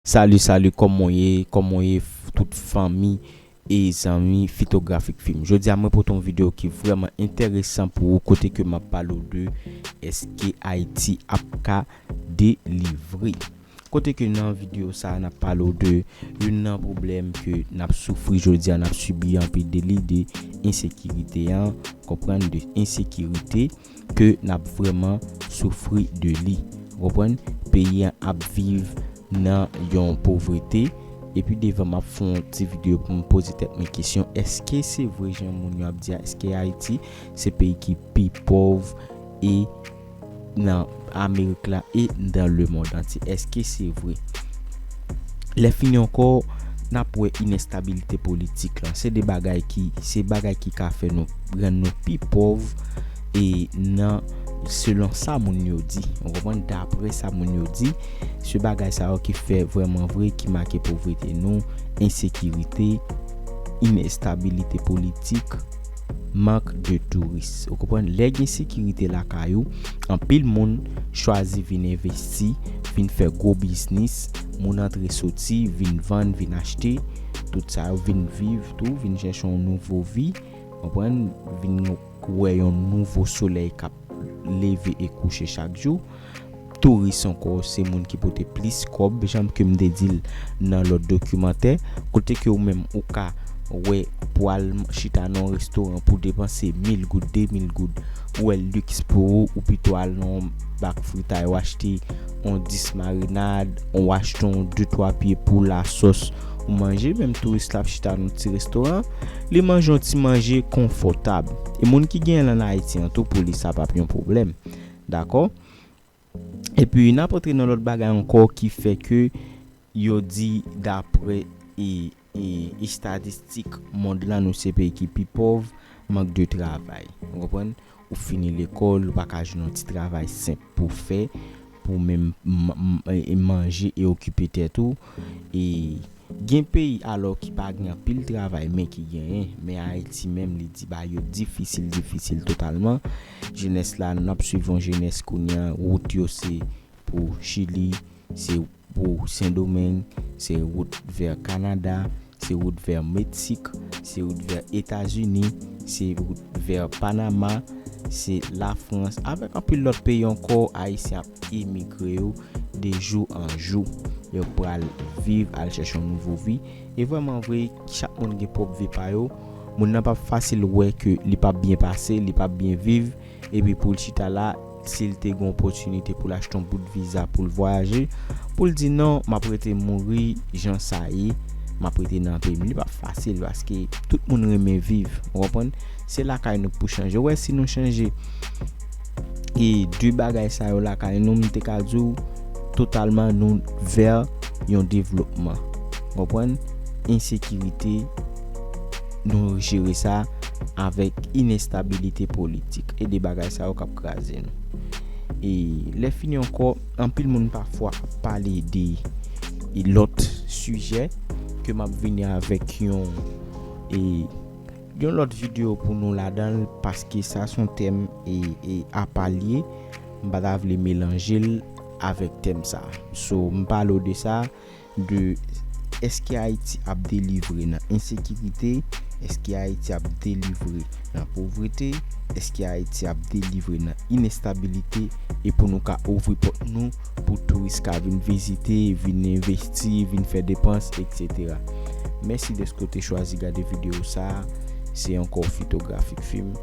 Salut salut kòmon ye kòmon ye tout fanmi e zanmi fitografik fim jodi a mwen pote yon video ki vrèman entèresan pou ou kote ke map pale ou de eske ayiti ap ka delivre kote ke nan video sa a nap pale ou de youn nan pwoblèm ke nap soufri jodi a nap sibi anpi de li de ensekirite an konprann de ensekirite. ke nap vreman soufri de li ou konprann peyi an ap viv nan yon povrete epi devan map fè yon ti video poum poze tèt mwen kesyon eske se vre jan moun yo ap di a eske ayiti se peyi ki pi pòv e nan Amerik la e nan lemond antye. Eske se vre? Lèfini ankò, n ap wè inèstabilite politik lan. Se 2 bagay ki se bagay ki ka fè nou rann nou pi pòv e nan selon sa moun yo di. Ou konprann? Dapre sa moun yo di, se bagay sa yo ki fè vrèman vre ki make povrete nou, ensekirite, inèstabilite politik. mank de touris ou konprann lè gen sekirite lakay ou anpil moun chwazi vin envesti vin fè gwo biznis moun antre soti vin vann vin achte tout sa yo vin viv tou vin chèche yon nouvo vi konprann vin wè yon nouvo solèy kap leve e kouche chak jou. Touris ankò se moun ki pote plis kòb janm ke m te di l nan lòt dokimantè, kote ke ou menm ou ka wè pou al chita nan yon restoran pou depanse mil goud, de mil goud, ou wè l liks pou ou, ou pito al nan yon bak fritay ou achte yon 10 marinad, ou achte yon de twa pye pou lasòs ou manje, menm touris la ap chita nan ti restoran, li manje yon ti manje konfòtab. E moun ki genyen l an Ayiti an tou pou li sa pap yon pwoblèm. Dakò? Epi n ap antre nan lòt bagay ankò ki fè ke yo di daprè e estatistik mond lan nou se peyi ki pi pòv, mank de travay. Ou konprann? Ou fini lekòl, ou pa ka jwenn yon ti travay senp pou w fè pou w menm manje e okipe tèt ou. E gen peyi alò ki pa gen anpil travay men ki genyen. Men Ayiti menm li di bagay yo difisil, difisil totalman. Jenès la, n ap suiv yon jenès kounye an, wout yo se pou Chili, se. Pou Sendomeng, se wout vè Kanada, se wout vè Meksik, se wout vè Etazini, se wout vè Panama, se Lafrans, avèk anpil lòt peyi ankò Ayisyen ap emigre yo de jou an jou. Yo pral viv, al chèche yon nouvo vi. E vrèman vre, chak moun gen pwòp vi pa yo. Moun nan pap fasil wè ke li pap byen pase, li pap byen viv. epi pou l chita la si l te gen yon opòtinite pou l achte yon bout viza pou l vwayaje pou l di non m ap rete mouri jan sa ye m ap rete nan peyi m li pap fasil paske tout moun renmen viv ou konprann se lakay nou k pou chanje ou wè si nou chanje e de bagay sa yo lakay nou m te ka di w totalman nou vè yon devlopman ou konprann ensekirite. Nou jere sa avèk inestabilite politik e 2 bagay sa yo kap kraze nou. E lè fini ankò, anpil moun pafwa ap pale de lòt sijè ke map vini avèk yon e yon lòt video pou nou ladan l paske sa son tèm e apa l ye, m pa ta vle melanje l avèk tèm sa. So m pale w de sa. de eske Ayiti ap delivre nan ensekirite, eske Ayiti ap delivre nan povrete, eske Ayiti ap delivre nan inestabilite e pou nou ka ouvri pòt nou pou touris ka vin vizite, vin envesti, vin fè depans, etc. Mèsi dèske w te chwazi gade videyo sa a. Se ankò Fitografik Film.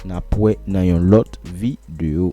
N ap wè nan yon lòt videyo.